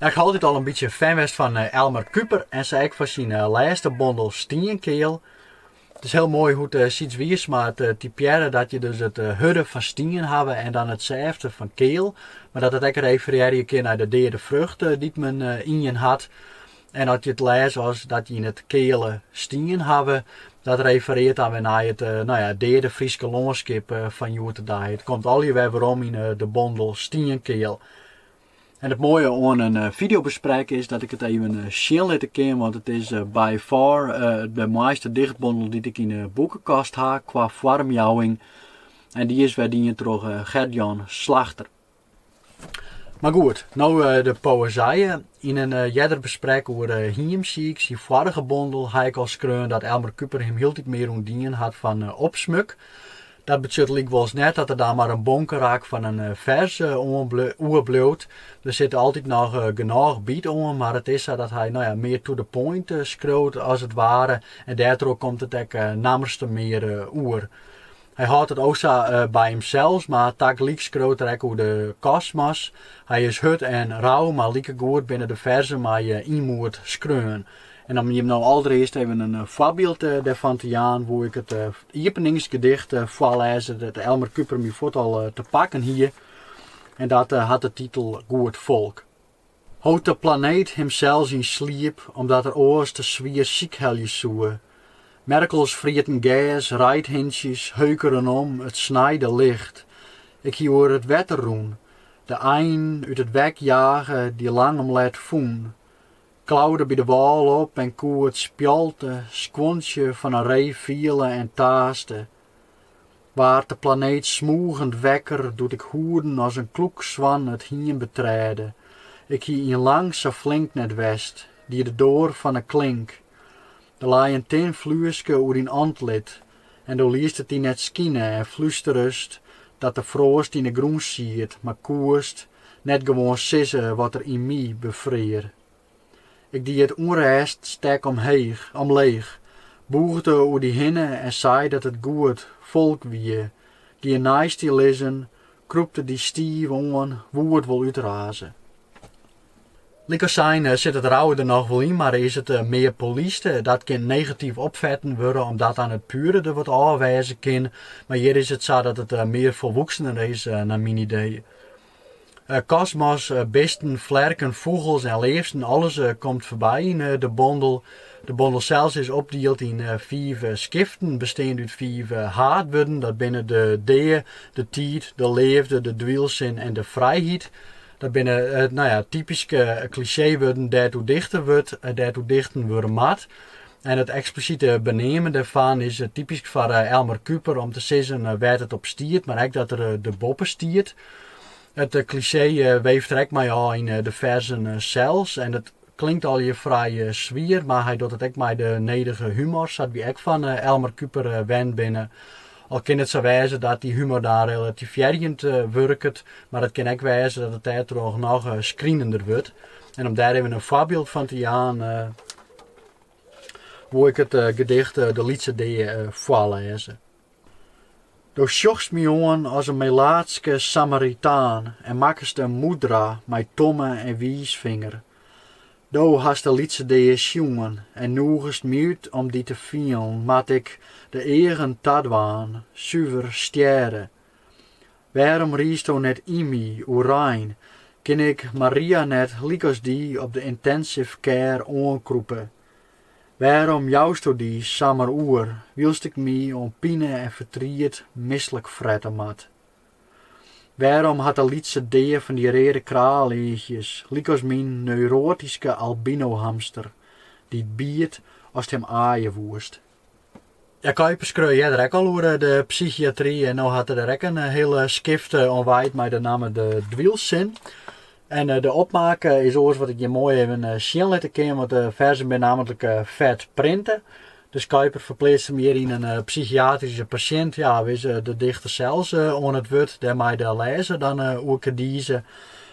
Ik haw altyd al in bytsje fan west fan eh, Elmar Kuiper en sa ek fan syn eh, lêste bondel Stienkeal. It is hiel moai hoe't Syds Wiersma it eh, typearre dat je dus it eh, hurde fan stien hawwe en dan it sêfte fan keal. Mar dat it ek referearje kin nei de deade frucht eh, dy't men yn jin hat. En as je it lêze as dat je yn it keale stien hawwe, dat refereart dan wer nei it no ja, deade Fryske lânskip fan hjoed de dei. It komt allegear wer werom yn de bondel Stienkeal. En it moaie oan in eh, fideobesprek is dat ik it even eh, sjen litte kin, want it is eh, by far de moaiste dichtbondel dy't ik yn de boekekast ha kwa foarmjouwing. En dy is wer dien troch Gert Jan Slagter. Mar goed, no eh, de poëzije. Yn in eh, earder besprek oer eh, Hiemsiik, syn foarige bondel, ha ik al skreaun dat Elmar Kuiper him hieltyd mear ûntdien hat fan opsmuk. Dat betsjut lykwols net dat der dan mar in bonkerak fan in fers oerbliuwt. Der sit altyd noch genôch byt oan, mar it is sa dat hy no ja, mear to the point skriuwt as it ware. En dêrtroch komt it ek nammerste mear oer. Hy hâldt it o sa by himsels, mar tagelyk skriuwt er ek oer de kosmos. Hy is hurd en rau, mar likegoed binne de ferzen mei ynmoed skreaun. En om jim no aldreist even in foarbyld dêrfan te jaan, woe ik it iepeningsgedicht foarlêze dêr't Elmar Kuiper my fuort al te pakken hie en dat hat de titel Goed folk. Hold de planeet himsels yn sliep omdat er oars te swier sykhelje soe. Merkels frieten gers, reidhintsjes heukeren om it snijde licht. Ik hie oer it wetter rûn, de ein út it wek jage, dy lang om let fûn. Klaude by de wâl op en koe it spjalte skuontsje fan in ree fiele en taaste. Waard de planeet smûgend wekker doe't ik hoeden as in kloekswan it hiem betrêde. Ik hie yn lang sa flink net west, die de doar fan 'e klink. Der lei in tin flueske oer dyn antlit en do liest it dy net skine en flusterest dat de froast yn 'e grûn siet, mar koest net gewoan sizze wat der yn my befrear. Ik die it ûnrêststek omheech, omleech, bûgde oer dy hinne en sei dat it goed folk wie, gie neist dy lizzen, krûpte dy stiif oan, woe it wol útraze. Lykas sein sit it rauwe der noch wol yn, mar is it mear polyst. Dat kin negatyf opfetten wurde omdat dan it pure der wat ôf wêze kin, mar hjir is it sa dat it mear folwoeksener is nei myn idee. Eh, kosmos, eh, bisten, flerken, fûgels en leafsten, alles eh, komt foarby yn de bondel. De bondel sels is opdield yn fiif skiften, besteand út fiif haadwurden. Dat binne de dea, de tiid, de leafde, de dwylsin en de frijheid. Dat binne nou ja, typyske klisjeewurden dêr't oer dichte wurdt, dêr't oer dichten wurde moat. En it eksplisite beneamen dêrfan is typysk foar Elmar Kuiper om te sizzen wêr't it op stiet, mar ek dat er der boppe stiet. It klisjee weeft er ek mei ôf yn de ferzen sels en it klinkt allegear frij swier, mar hy docht it ek mei de nedige humor, sa't wy ek fan Elmar Kuiper wend binne. Al kin it sa wêze dat dy humor dan relativearjend wurket, mar it kin ek wêze dat it dêrtroch noch skrinender wurdt. En om dêr even in foarbyld fan te jaan, woe ik it eh, gedicht eh, De Lytse Dea eh, foarlêze. Do sjochst my oan as in melaatske Samaritaan en makkest in moedra mei tomme en wiisfinger. Do hast de lytse dea sjoen en noegest my út om dy te fielen, moat ik de eagen tadwaan, suver stjêre. Wêrom riesto net yn my, oerein? Kin ik Maria net lykas dy op de intensive care oankrûpe? Wêrom jousto dy samar oer, wylst ik my oan pine en fertriet mislik frette moat? Wêrom hat de lytse dea fan dy reade kraaleachjes, lykas myn neuroatyske albinohamster, dy't biet ast him aaie woest? Ja, Kuiper skreau earder ek al oer de psychiatry en no hat er der ek in hiele skift oan wijd mei de namme De Dwylsin. En de opmaak is oars wat ik hjir moai even sjen litte kin, want de ferzen binne nammentlik fet printe. Dus Kuiper ferpleatst him hjir yn in psychiatryske pasjint, ja, of is de dichter sels oan it wurd, dêr mei de lêzer dan oer kedize.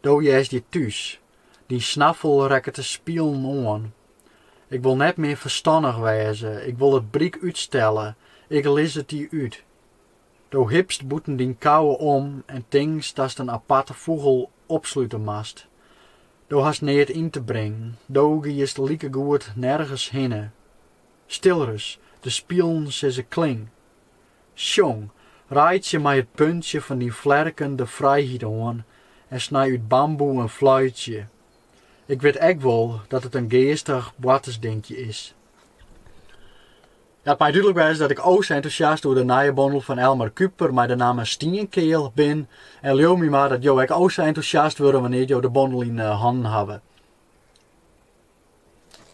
Do hearst hjir thús. Dyn snaffel rekket de spilen oan. Ik wol net mear ferstannich wêze, ik wol it bryk útstelle, ik lis it dy út. Do hipst bûten dyn kouwe om en tinkst datst in aparte fûgel opslute moatst. Do hast neat yn te bringen, do giest likegoed nergens hinne. Stil ris, de spilen sizze kling. Sjong, reitsje mei it puntsje fan dyn flerken de frijheid oan en snij út bamboe in fluitsje. Ik wit ek wol dat it in geastich boartersdinkje is. Ja, it mei dúdlik wêze dat ik o sa entûsjast oer de nije bondel fan Elmar Kuiper mei de namme Stienkeal bin en leau my mar dat jo ek o sa entûsjast wurde wannear't jo de bondel yn 'e hannen hawwe.